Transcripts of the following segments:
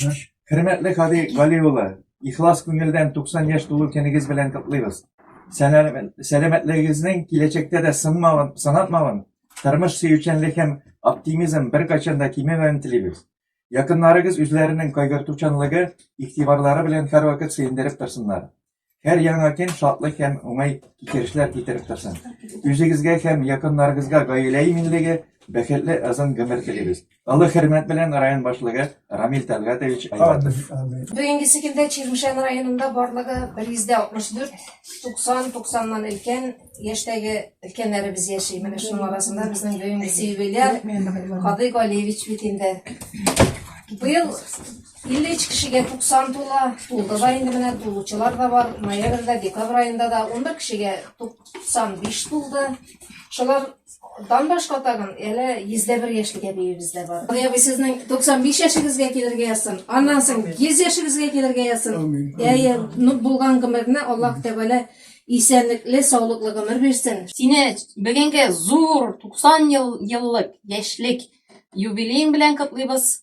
Хөрмәтле Хади Гали улы, ихлас күңелдән 90 яшь тулу көнегез белән котлыйбыз. Сәламәтлегегезнең киләчәктә дә сынмавын, сынатмавын, тормыш сөючәнлек һәм оптимизм беркайчан да кимемәвен телибез. Якыннарыгыз үзләренең кайгыртучанлыгы, игътибарлары белән һәрвакыт сөендереп торсыннар. Һәр яңа көн шатлык һәм уңай китерешләр китереп торсын. Үзегезгә һәм якыннарыгызга гаилә иминлеге, бәхетле озын гомер телибез. Олы хөрмәт белән район башлыгы Рамил Тәлгатович Айватов. Бүгенгесе көндә Чирмешән районында барлыгы 164 90 90ннан өлкән яшьтәге өлкәннәребез яши. Менә шуның арасында безнең бүгенгесе юбиляр Кадый Галиевич бит инде. Быел 53 кешегә 90 тула, тулды да инде менә тулучылар да бар. Ноябрьдә, декабрь аенда да 11 кешегә 95 тулды. Шулар дан башка тагын әле 101 яшьлегә биебез дә бар. Худай абый сезнең 95 яшегезгә килергә язсын. Аннан соң 100 яшегезгә килергә язсын. Әйе, ну булган гомерне Аллаһ Тәгалә исәнлекле, саулыклы гомер бирсен. Сине бүгенге зур 90 ел еллык яшьлек юбилеең белән котлыйбыз.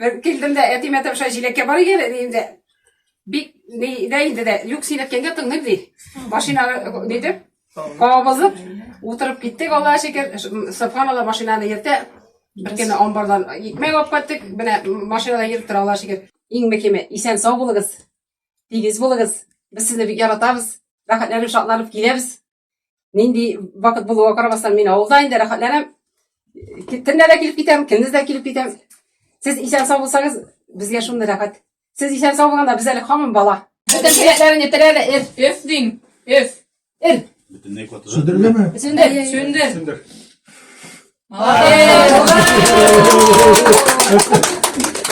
Бер килдем дә әтимә тапша җиләккә бар икән әни инде. Бик ни дә инде дә юк син әткәнгә тыңлыйм ди. Машина нидеп кабызып утырып киттек Аллага шөкер. Субханалла машинаны йөртә. Бер кенә амбардан икмәк алып кайттык. Менә машинада йөреп тора Аллага шөкер. Иң мөһиме исән сау булыгыз. Тигез булыгыз. Без сезне бик яратабыз. Рәхәтләнеп шатланып киләбез. Нинди вакыт булуга карамастан мин авылда инде рәхәтләнәм. Кемнә дә килеп китәм, кемнез дә килеп китәм. Сез исән сау булсагыз, безгә шундый рәхәт. Сез исән сау булганда без әле хамын бала. Бөтен теләкләрен ителә дә эф, эф дин, эф, эр. Бөтенләй котыра. Сүндерелеме? Сүндер, сүндер. Сүндер. Молодец!